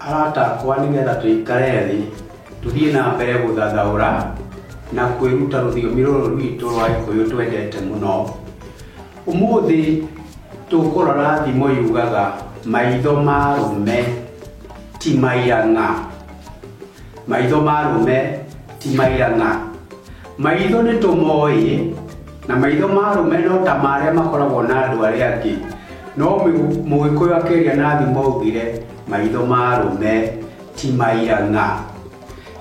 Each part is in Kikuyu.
Arata akwa, nĩgetha tũikare thĩ, tũthiĩ na mbere gũthathaũra na kwĩruta rũthiomi rũrũ rwitũ rwa Gĩkũyũ twendete mũno, ũmũthĩ tũkũrora thimo yugaga, maitho ma arũme ti maira ng'a. Maitho ma arũme ti maira ng'a. Maitho nĩ tũmoĩ. Na maitho ma arũme no ta marĩa makoragwo na andũ arĩa angĩ. No Mũgĩkũyũ akeria na thimo augire, maitho ma arũme ti maira ng'a.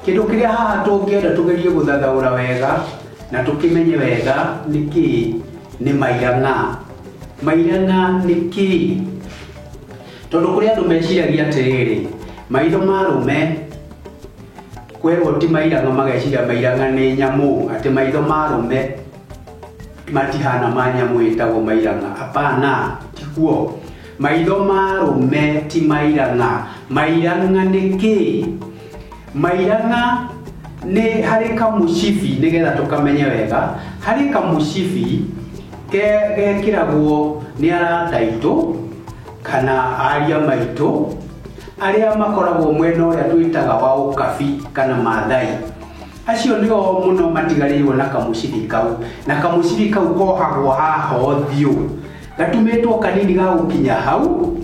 Kĩndũ kĩrĩa haha tũngĩenda tũgerie gũthathaũra wega na tũkĩmenye wega nĩ kĩĩ nĩ maira ng'a. Maira ng'a nĩ kĩĩ? Tondũ kũrĩ andũ meciragia atĩrĩrĩ, maitho ma arũme... Kwerwo ti mairanga mageciria mairanga nĩ nyamũ atĩ maitho ma rũme matihana ma nyamũ ĩtagwo mairanga hapana tiguo maitho ma rũme ti mairanga mairanga nĩ kĩ mairanga nĩ harĩ kamũcibi nĩgetha tũkamenye wega harĩ kamũcibi ke- gekĩragwo nĩ arata aitũ kana aria maitũ Arĩa makoragwo mwena ũrĩa twĩtaga wa Ũkabi kana Maathai, acio nĩo mũno matigarĩirwo na kamũcibi kau, na kamũcibi kau kohagwo haha ũthiũ, gatumĩtwo kanini ga gũkinya hau,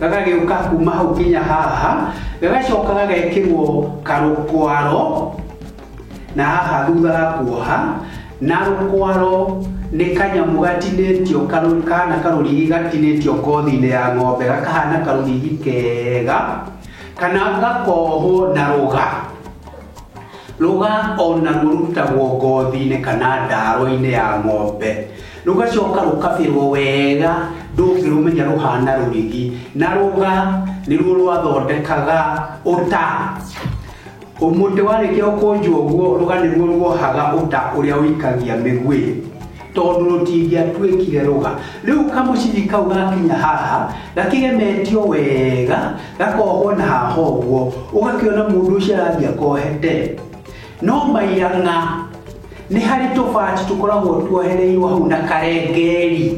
gagagĩũka kuma hau nginya haha, gagacoka gagekĩrwo karũkwaro. na haha thutha wa kuoha na rũkwaro nĩ kanyamũ gatinĩtio karũ- kahana karũrigi gatinĩtio ngothi-inĩ ya ng'ombe gakahana karũrigi kega kana gakohwo na rũga rũga ona rũrutagwo ngothi-inĩ kana ndaro-inĩ ya ng'ombe rũgacoka rũkabĩrwo wega ndũngĩrũmenya rũhana rũrigi na rũga nĩruo rwathondekaga ũta Mũtĩ warĩkia gũkũnjwo ũguo, rũga nĩruo ruohaga ũta ũrĩa ũikagia mĩguĩ, tondũ rũtingĩatuĩkire rũga. Rĩu kamũcibi kau gakinya haha, gakĩgemetio wega, gakohwo na haha ũguo, ũgakĩona mũndũ ũcio arathiĩ akohete. No mairang'a, nĩ harĩ tũbati tũkoragwo tuohereirwo hau na karengeri.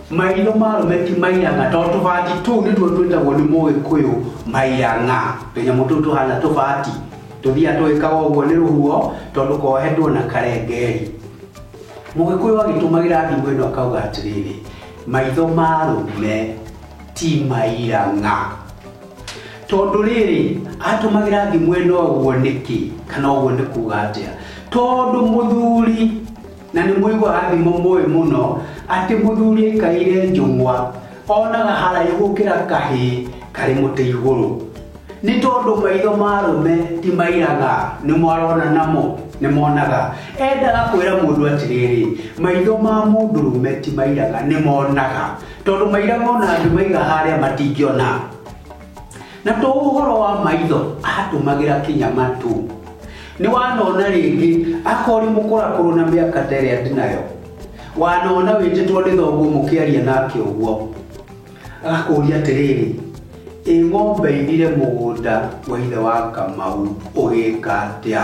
Maitho ma arũme ti maiyanga, tondũ tũbati tũu nĩtuo twĩtagwo nĩ Mũgĩkũyũ maiyang'a. Tũnyamũ tũu tũhana tũbati, tũthiaga tũgĩkaga ũguo nĩ rũhuho, tondũ kohetwo na karengeri. Mũgĩkũyũ agĩtũmagĩra thimũ ĩno akauga atĩrĩrĩ, maitho ma arũme ti maiyang'a. Tondũ rĩrĩ, atũmagĩra thimũ ĩno ũguo nĩkĩ, kana ũguo nĩ kuga atĩa? Tondũ mũthuri Na nĩ mũigua rathimo mũĩ mũno atĩ mũthuri aikaire njũng'wa onaga haraihu gũkĩra kahĩ karĩ mũtĩ igũrũ. Nĩ tondũ maitho ma arũme ti mairaga, nĩmo arona namo, nĩ monaga. Endaga kwĩra mũndũ atĩrĩrĩ, maitho ma mũndũrũme ti mairaga, nĩ monaga. Tondũ mairaga o na angĩmaiga harĩa matingĩona. Na to ũhoro wa maitho atũmagĩra kĩnyama tu nĩ wanona rĩngĩ akori mũkũrakũrũ na mĩaka ta ĩrĩa ndinayo wanona wĩtĩtwo nĩ thoguo mũkĩaria nake ũguo agakũria atĩrĩrĩ ĩ ng'ombe irire mũgũnda wa ithe wa kamau ũgĩka atĩa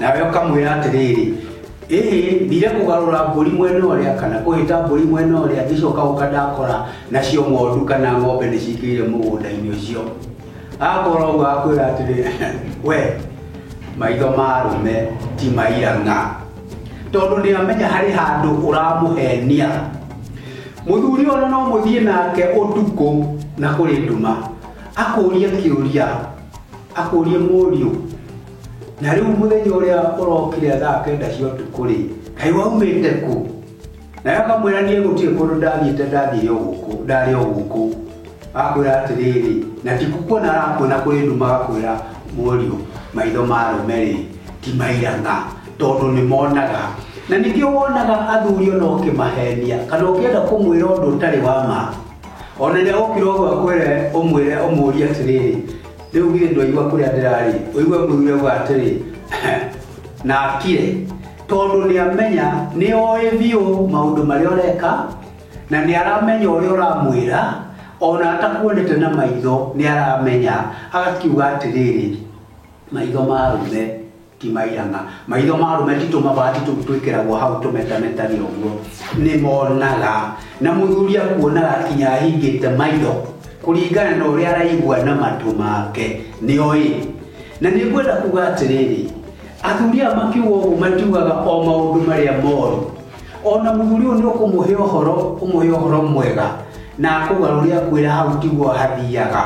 Nawe ũkamwĩra atĩrĩrĩ, ĩĩ thire kũgarũra mbũri mwena ũrĩa kana kũhĩta mbũri mwena ũrĩa ngĩcoka ũka ndakora nacio ng'ondu kana ng'ombe nĩ cikĩire mũgũnda-inĩ ũcio akorwo ũguo akwĩra atĩrĩ we maitho ma arũme ti mairang'a tondũ nĩ amenya harĩ handũ ũramũhenia mũthuri ona no mũthiĩ nake ũtukũ na kũrĩ nduma akũria kĩũria akũrie mũriũ na rĩu mũthenya ũrĩa ũrokire thaa kenda cia ũtukũ-rĩ kaĩ waumĩte kũ naye akamwĩra niĩ gũtirĩ kũndũ ndathiĩte ndathiĩ o gũkũ ndarĩ o gũkũ akwĩra atĩrĩrĩ na ti kukuona arakuona kũrĩ nduma agakwĩra mũriũ maitho ma arũme-rĩ ti mairang'a tondũ nĩ monaga na ningĩ wonaga athuri ona ũkĩmahenia kana ũkĩenda kũmwĩra ũndũ ũtarĩ wa ma ona nĩ agũkĩra ũguo akwĩre ũmwĩre ũmũrie atĩrĩrĩ Rĩu githĩ ndwaigua kũrĩa ndĩrarĩ? Ũigue mũthuri auga atĩrĩ, nakire, tondũ nĩamenya nĩoĩ biũ maũndũ marĩa ũreka na nĩaramenya ũrĩa ũramwĩra ona atakuonete na maitho nĩaramenya. Agakiuga atĩrĩrĩ, maitho ma arũme Ti mairanga. Maitho ma arũme ti tũmabati tũu twĩkĩragwo hau tũmetametari ũguo. Nĩ monaga. Na mũthuri akuonaga nginya ahingĩte maitho kũringana na ũrĩa araigua na matũ make. Nĩ oĩ. Na nĩ ngwenda kuga atĩrĩrĩ, athuri aya makiuga ũguo matiugaga o maũndũ marĩa moru. O na mũthuri ũyũ nĩ ũkũmũhe ũhoro, ũmũhe ũhoro mwega na akũgarũre akwĩre hau tiguo hathiaga.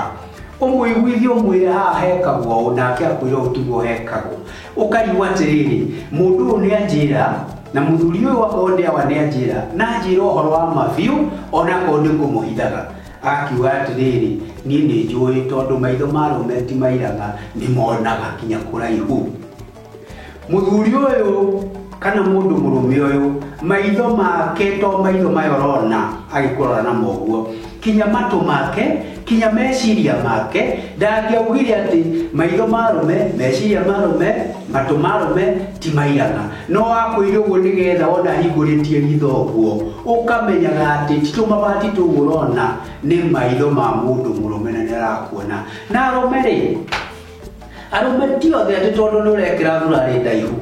ũmũiguithie ũmwĩre haha hekagwo ũũ nake akwĩra ũũ tiguo hekagwo ũkaigua atĩrĩrĩ mũndũ ũyũ nĩ anjĩra na mũthuri ũyũ akorwo nĩ awa nĩ anjĩra na anjĩra ũhoro wa ma biũ ona akorwo nĩ kũmũhithaga akiuga atĩrĩrĩ niĩ nĩ njũĩ tondũ maitho ma rũme ti mairaga nĩ monaga nginya kũraihu Mũthuri ũyũ kana mũndũ mũrũme ũyũ maitho make to maitho maya ũrona agĩkũrora namo ũguo kinya matũ make kinya meciria make ndangĩaugire atĩ maitho ma rũme meciria ma rũme matũ ma rũme ti maigana no wakwĩire ũguo nĩgetha wona hingũrĩtie ritho ũguo ũkamenyaga atĩ ti tũmabati tũu ũrona nĩ maitho ma mũndũ mũrũme na nĩ arakuona na arũme rĩ arũme ti othe atĩ tondũ nĩ ũrekĩra thurarĩ ndaihu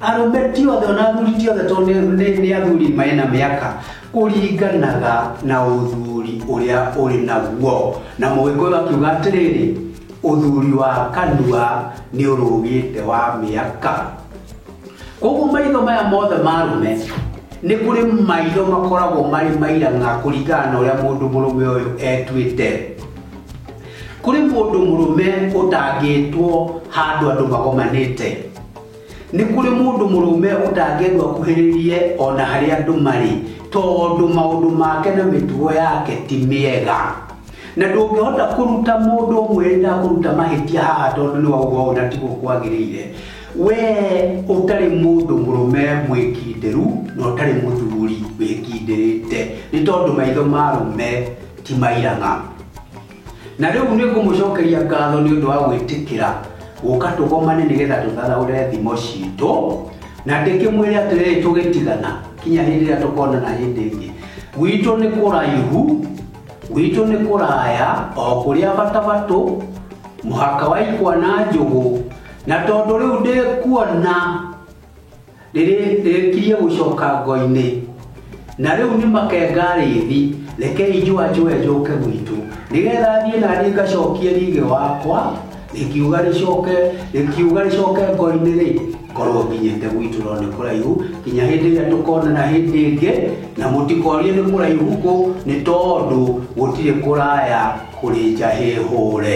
arũme ti othe ona athuri ti othe tondũ nĩ- nĩ nĩ athuri marĩ na mĩaka kũringanaga na ũthuri ũrĩa ũrĩ naguo na mũgĩkũyũ akiuga atĩrĩrĩ ũthuri wa kanua nĩ ũrũgĩte wa mĩaka koguo maitho maya mothe marume nĩ kũrĩ maitho makoragwo marĩ mairanga kũringana na ũrĩa mũndũ mũrũme ũyũ etuĩte Kũrĩ mũndũ mũrũme ũtangĩtwo handũ andũ magomanĩte? Nĩ kũrĩ mũndũ mũrũme ũtangĩendwo akuhĩrĩrie o na harĩa andũ marĩ, tondũ maũndũ make na mĩtugo yake ti mĩega. Na ndũngĩhota kũruta mũndũ ũmwe rĩrĩa akũruta mahĩtia haha tondũ nĩ wauga ũũ na tiguo kwagĩrĩire. Wee ũtarĩ mũndũ mũrũme mwĩkindĩru na ũtarĩ mũthuri wĩkindĩrĩte, nĩ tondũ maitho ma arũme ti mairang'a. na rĩu nĩ ngũmũcokeria ngatho nĩ ũndũ wa gwĩtĩkĩra gũka tũgomane nĩgetha tũtharaũre thimo citũ na ndĩkĩmwĩre atĩrĩrĩ tũgĩtigana kinya hĩndĩ ĩrĩa tũkonana hĩndĩ ĩngĩ gwitũ nĩ kũraihu gwitũ nĩ kũraya o kũrĩa batabatũ mũhaka wa ikwa na njũgũ na tondũ rĩu ndĩkuona rĩrĩ- rĩrĩkirie gũcoka ngo-inĩ na rĩu nĩ makenga rĩthi rekei njũa njũe njũke gwitũ nĩgetha thiĩ na niĩ ngacokie rigĩ wakwa rĩkiuga rĩcoke rĩkiuga rĩcoke ngo-inĩ rĩ korwo nginyĩte gwitũ no nĩ kũraihu nginya hĩndĩ ĩrĩa tũkonana hĩndĩ ĩngĩ na mũtikorie nĩ kũraihu kũ nĩ tondũ gũtirĩ kũraya kũrĩ njahĩ hũre